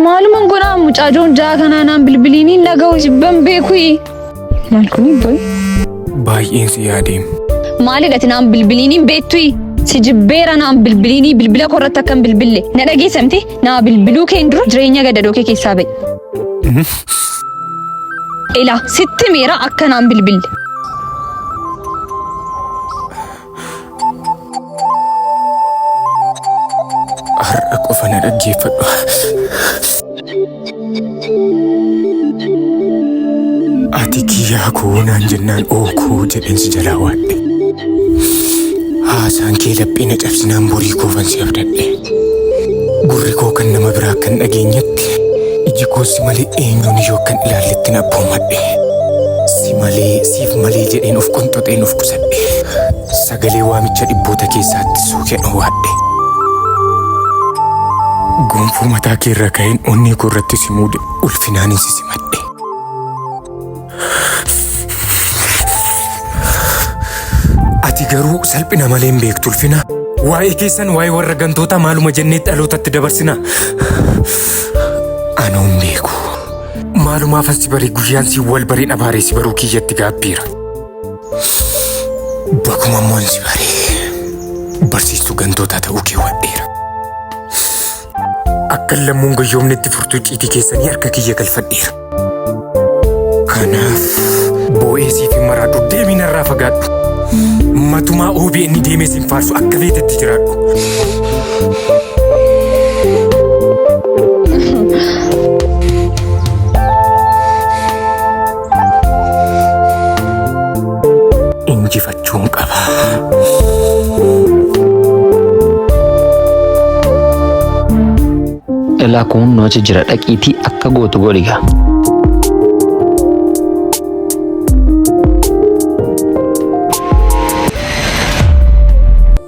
Maaluman godhaa mucaajoon jaa kanaa naan bilbiliinii naga'u jibban beekuyi. Maal kuni boy? Baay'een si yaadeen. Maalidhati naan bilbiliinii beektuyi. Si jibbeera naan bilbiliinii bilbila korratti akkan bilbille. Na dhageessamte naa bilbiluu keen dura jireenya gadadoo kee keessaa ba'e. Ila sitti miira akkanaan bilbille. Har'a qofa na dhaggeeffadhu. Ati kiyyaa koo naan jennaan ookoo jedheen si jalaa waadhe. Haasaan kee laphee na cabsinaan borii koofan si abdadhe. Gurri koo kan nama biraa kan dhageenyetti Ati iji koo si malee eenyuun yoo akkan ilaallettin abboomadhe. Si malee siif malee jedheen of qonxoxeen of qusadhe. Sagalee waamicha dhibboota keessaatti suukeen owwaadhe. Gonfoo mataa kee irra ka'een onnee koo irratti si muude ulfinaanin si simadhe. Ati garuu salphina malee hin beektu ulfina. Waa'ee keessan waa'ee warra gantootaa maaluma jennee dhalootatti dabarsina. Anuu hin beeku. Maalumaaf asi barii guyyaan si wal bareen abaaree si baruu kiyyatti gaabbiira. Bakuma immoo si baree barsiistuu gantootaa ta'uu kee wadheera. Akkan lammuun gayyoomnetti furtuu icciitii keessanii harka kiyya galfadheera. Kanaaf boo'ee siif hin maraadhu deebii narraa fagaadhu. Matumaa OBN deemee siin faarsu akka feetetti jiraadhu. jechuun qaba. Elaa kun nu achi jira dhaqiitii akka gootu godhiga.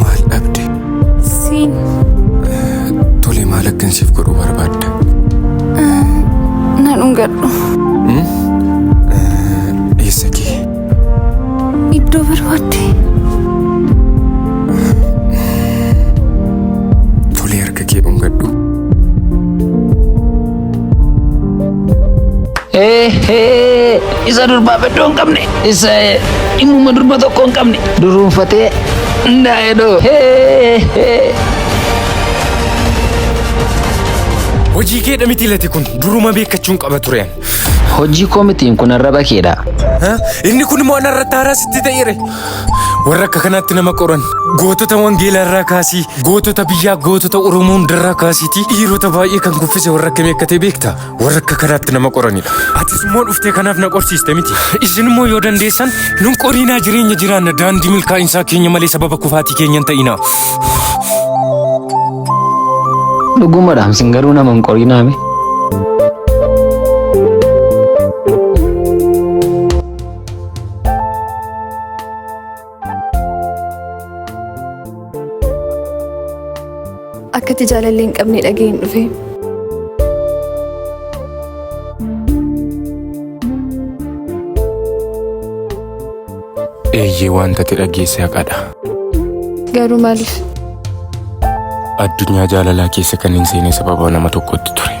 Maal dhabde? Siin Tole maal akkan siif godhu barbaadda? na dhungadhu. Eessa kee? Iddoo barbaadde. Tole harka kee dhungadhu. Eehee isa durbaa beddoo hin qabne isa dhimmuma durba tokko hin qabne duruunfatee ndaa'edoo heehee. Hojii keedha miti lati kun duruma beekachuun qaba tureen. Hojii koo mitiin kun arraba keedha. Inni kun immoo anarratti haaraa sitti ta'eere. Warra akka kanaatti nama qoran gootota wangeelaa irraa kaasii gootota biyyaa gootota Oromoo hundarraa kaasiitii dhiirota baay'ee kan kuffise warra akkamii akka ta'e beekta warra akka kanaatti nama qoranidha. Atis immoo dhuftee kanaaf na qorsiiste miti. Isin immoo yoo dandeessan nun qoriinaa jireenya jiraanna daandii milkaa'insaa keenya malee sababa kufaatii keenya hin ta'inaa. Dhugumadhaam sin garuu nama hin qorinaame. Akkati jaalallee hin qabne dhaga'een dhufe. Eeyyee waan tate dhageesse haqadha. Garuu maaliif? Addunyaa jaalalaa keessa kan hin seene sababa nama tokkotti ture.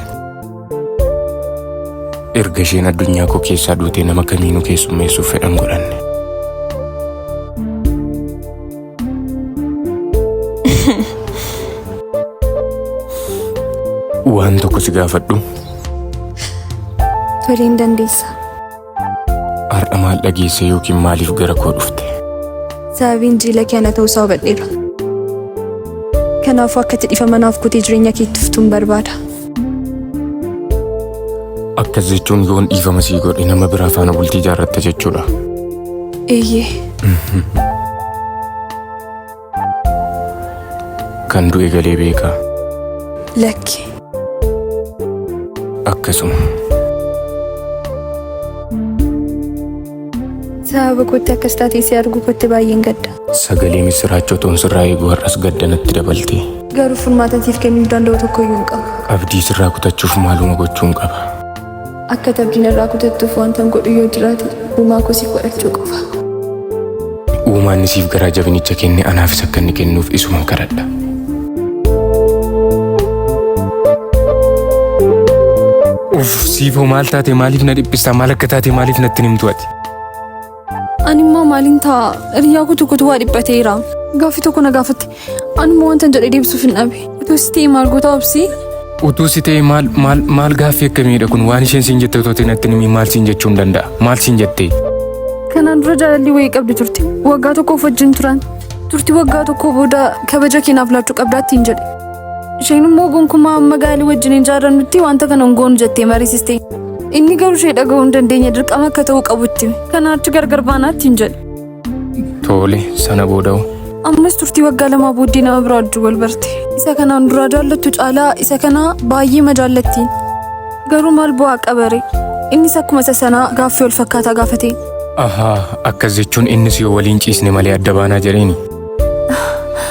Erga isheen addunyaa koo keessaa duutee nama kamiinuu keessummeessuuf fedhan godhanne. Waan tokko si gaafadhu. Tole hin dandeessa. Har'a maal dhageesse yookiin maaliif gara koo dhufte? Sababiin jiila kee ana ta'uusaa hubadheera. Kanaafuu akka itti dhifama naaf kutee jireenya kee itti fuftuun barbaada. Akkas jechuun yoon dhiifama sii godhe nama biraa faana bultii ijaarratta jechuudha. Eeyyee. Kan du'e galee beeka. Lakki. Akkasuma. Sababa kootti akkas taatee si arguu kootti baay'een gadda. Sagalee misiraachoo toon sirraa eeguu har'as gadda natti dabalte. Garuu furmaatan siif kennuu danda'u tokko iyyuu hin qabu. Abdii sirraa kutachuuf maaluma gochuun qaba. Akka ati abdii narraa kutattuuf wantan godhu yoo jiraate uumaa koo siif kadhachuu qofa. Uumaan inni siif garaa jabinicha kenne anaafis akka inni kennuuf isuman kadhadha. Uff siifoo maal taate maaliif na dhiphistaa maal akka taate maaliif natti hin himtu ati. Ani immoo maaliin ta'a? Hiriyaa koo tokkotu waa dhiphateera. Gaaffii tokko na gaafatte. Ani immoo wanta jedhe deebisuuf hin dhabe. Utuu si ta'e maal goota obsi? Utuu si ta'e maal maal maal gaaffii akkamiidha kun waan isheen siin jette otoo ta'in atti nimi maal siin jechuu hin danda'a maal siin jettee. Kanaan dura jaalalli wayii qabdi turte. Waggaa tokkoof wajjin turan. Turtii waggaa tokkoo booda kabaja keenyaaf laachuu qabdaa ittiin jedhe. Isheen immoo gonkumaa amma gaalii wajjin hin jaarannutti wanta kana hin goonu jettee mariisiste. Inni garuu ishee dhaga'uu hin dandeenye dirqama akka ta'uu qabutti. Kanaa achi gargar baanaatti hin jedhe. Tole sana booda hoo? Ammas turtii waggaa lamaa booddee nama biraa wajjin wal barte. Isa kanaan duraa jaallattu caalaa isa kana baay'ee ma jaallatti. Garuu maal bu'aa qabare? Innis akkuma isa sanaa gaaffii wal fakkaataa gaafate. Ahaa akkas jechuun innis yoo waliin ciisne malee adda baanaa jedheeni.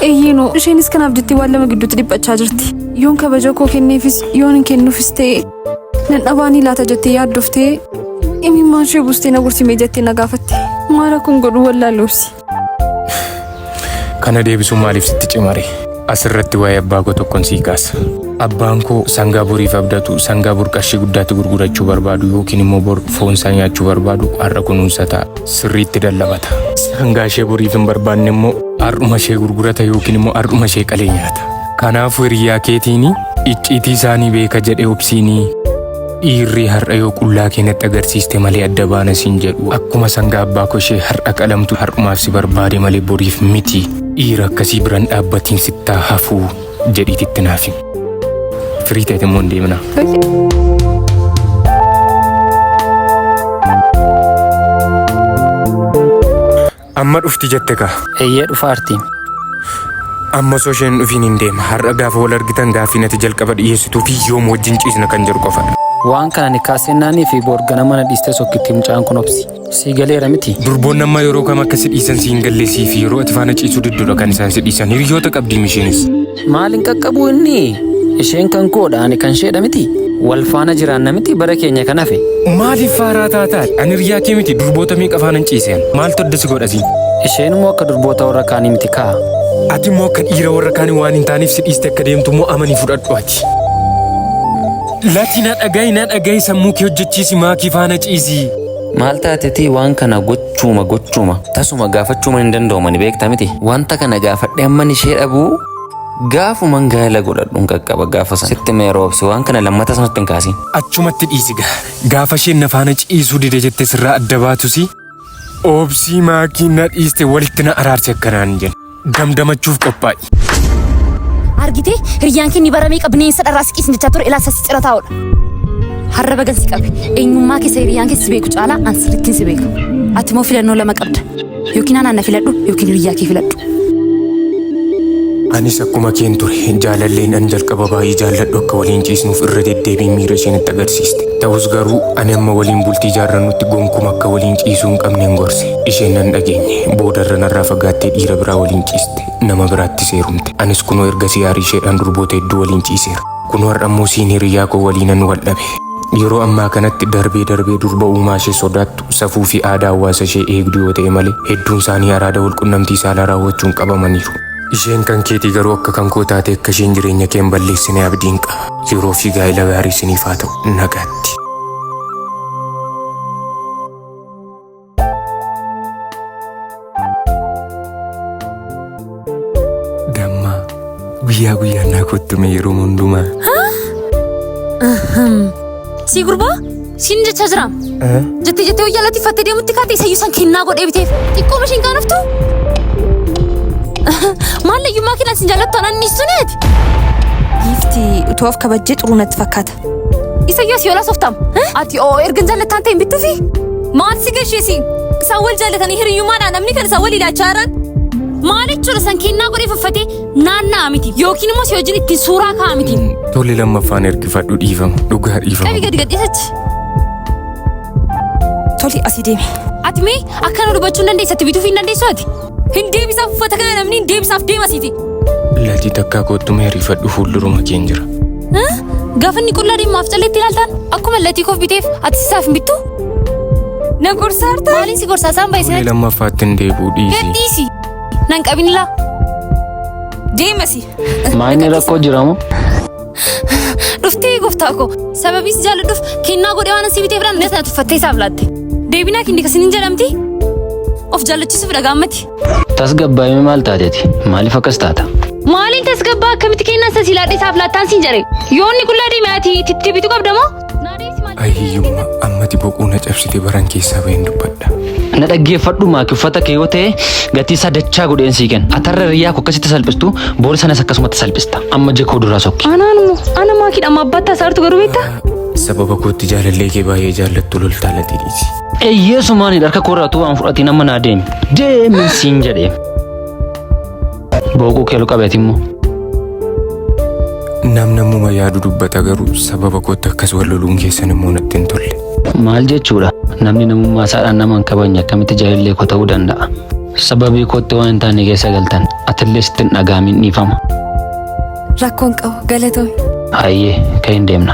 Eeyyee noo isheenis kanaaf jettee waan lama gidduutti dhiphachaa jirti. Yoon kabaja koo kenneefis yoon hin kennuufis ta'e nan dhabaanii laata jettee yaaddoftee imimmaan ishee buustee na gursimee jettee na gaafatte. Maara kun godhu wallaalloofsi. Kana deebisuun maaliif sitti cimare? Asirratti waa'ee abbaa koo tokkon sii kaasa. Abbaan koo sangaa boriif abdatu sangaa bor qarshii guddaatti gurgurachuu barbaadu yookiin immoo bor foon isaa nyaachuu barbaadu har'a kunuunsa ta'a. sirriitti dallabata. Sangaa ishee boriif hin barbaanne immoo har'uma ishee gurgurata yookiin immoo har'uma ishee qalee nyaata. Kanaafuu hiriyaa keetiini icciitii isaanii beeka jedhee obsiinii dhiirri har'a yoo qullaa keenyatti agarsiiste malee adda baana siin jedhu akkuma sangaa abbaa koo ishee har'a qalamtu har'umaaf si barbaade malee boriif miti dhiira akkasii biran dhaabbatiin sittaa hafuu. jedhiiti itti naaf himi. Firii ta'eeti immoo hin deeminaa. Amma dhufti jette kaa. Eeyyee dhufa artiin. Amma osoo isheen dhufiin hin deema. Har'a gaafa wal argitan gaaffii nati jalqaba dhiyeessituu fi yoom wajjin ciisna kan jedhu qofadha. Waan kana ni kaasee naanii fi boorgana mana dhiistee sokkitti mucaan kun obsi. Sii galeera miti. Durboonni amma yeroo kam akka si dhiisan si hin galleessii fi yeroo ati faana ciisuu diddudha kan isaan si dhiisan hiriyoota qabdiim isheenis. Maal hin qaqqabu inni? Isheen kan koodha ani kan isheedha miti. Wal faana jiraanna miti bara keenya kan hafe. Maaliif faaraa taataan? Ani hiriyaa kee miti durboota meeqa faana hin ciiseen? Maaltu adda si godhasi? Isheen immoo akka durboota warra kaanii miti kaa. Ati immoo akka dhiira warra kaanii waan hin taaneef si dhiiste akka deemtu immoo amanii fudhadhu ati. Lati na dhagahi na dhagahi sammuu kee hojjechiisi maakii faana ciisii. Maal taatetii waan kana gochuuma gochuuma tasuma gaafachuuma hin danda'umani beekta miti. Wanta kana gaafadhe amman ishee dhabuu gaafuman gaa'ela godhadhun qaqqaba gaafa sana. Sitti mee roobsi waan kana lammata sanatti hin kaasiin. Achumatti dhiisi gaa. Gaafa isheen na faana ciisuu dide jette sirraa adda baatusi oobsii maakii na dhiiste walitti na araarsi akkanaan jedhe. damdamachuuf qophaa'i. Argitee hiriyyaan kee ni bara meeqa bineensa dharraa siqiisin jechaa ture ilaa sassi cira taa'udha. Har'a bagan si qabe. Eenyummaa keessa hiriyyaan keessa si beeku caalaa an sirrittiin si beeka. Ati immoo filannoo lama qabda. Yookiin anaan na filadhu yookiin hiriyyaa kee filadhu. Anis akkuma keen ture jaalalleen an jalqaba baay'ee jaalladhu akka waliin ciisnuuf irra deddeebiin miira isheen itti agarsiiste. Ta'us garuu ani amma waliin bultii jaarrannutti gonkumaa akka waliin ciisuu hin qabneen gorse. Isheen nan dhageenye. Boodarra narraa fagaattee dhiira biraa waliin ciiste. Nama biraattis heerumte. Anis kunoo ergasii aarii isheedhaan durboota hedduu waliin ciiseera. Kunoo har'ammoo isiin hiriyyaa koo waliinan wal dhabe. Yeroo ammaa kanatti darbee darbee durba uumaa ishee sodaattu, safuu fi aadaa hawaasa ishee eegdu yoo ta'e malee hedduun isaanii araada wal qunnamtii saalaa raawwachuun qabamaniiru. Isheen kan keetii garuu akka kan koo taatee akka isheen jireenya kee hin balleessine abdiin qaba. Yeroo fi gaa'ila gaarii isiniif haa ta'u. Nagaatti. Damma guyyaa guyyaan naa kottume yeroo hundumaa. Sii gurbaa siin jechaa jira. Jettee jettee wayyaa latii fattee deemutti kaatee isayyuu san kennaa godhee biteef xiqqoo mashiin kaanaftu. Maallayyummaa kennaan siin jaallattu anaan ni suneeti. Giifti utuu of kabajjee xuruu natti fakkaata. Isayyas yoolaas oftaam. Ati oo erga hin jaallattaan ta'e hin bittuufi. Maal si gasheesi? Isaan wal jaallatanii hiriyyummaadhaan namni kan isaan wal ilaachaa jiran. Maal jechuudha san kennaa godhee fuffatee naanna'aa miti yookiin immoo si wajjin ittiin suuraa ka'aa miti. Tole lammaffaan ergifadhu dhiifama. Dhugaa Qabi dhiifama. gadi gadhiisachi. Toli asii deemi. Ati mee akka nu dubbachuu hin dandeessu ati bituuf hin dandeessu ati. Hin deebisaaf uffata kana namni hin deebisaaf deemasiiti. Latii takkaa kottu mee riifadhu fuulduruma keen jira. Gaafa inni qullaa deemaaf calleetti ilaaltaan akkuma latii koof biteef ati isaaf hin bittu. Na gorsaarta. Maaliin si gorsaa isaan Fuulee baay'isina. lammaffaatti hin deebi'u dhiisi. Gadhiisi. Nan qabinilaa. Deemasi. Maanni rakkoo jiramu? Dhuftee gooftaa koo sababii si jaalladhuuf kennaa godhee waan asii bitee biraan nyaata tuffattee isaaf laatte. Deebinaa kenne kan isiniin jedhamti of jaallachiisuuf dhaga'ammati. Tasgabbaa'ime maal taateeti? Maaliif akkas taata? Maaliin tasgabbaa akkamitti kennaa isa si laadhee isaaf laattaan siin jedhe. Yoonni qullaa deemee ati itti bitu qabda moo? Ay hiyyumma ammati boquu na cabsite baran keessaa baheen dubbadha. na dhaggeeffadhu maaki uffata kee yoo ta'e gatii isaa dachaa godheen sii kenna atarra riyyaa koo akkasitti salphistu boori sanas akkasumatti salphista amma jekoo duraa sokki Anaan immoo ana maakidha amma abbaatti asaartu garuu beektaa? Sababa kootti jaalallee kee baay'ee jaallattu loltaa latii dhiisi. eeyyeesumaan harka koorraa utuu waan fudhatiin amma naa deemi deemi siin jedhee Booquu keelu qabeeti immoo. Nam namuma yaadu dubbata garuu sababa kootti akkas wal loluun keessan immoo natti hin tolle. Maal jechuudha? Namni namummaa isaadhaan nama hin kabajne akkamitti jaalallee koo ta'uu danda'a? Sababii kootti waan hin taane keessa galtan atillee sitti hin dhaga'amin dhiifama. Rakkoon qabu galatoomi. Hayyee kan hin deemna.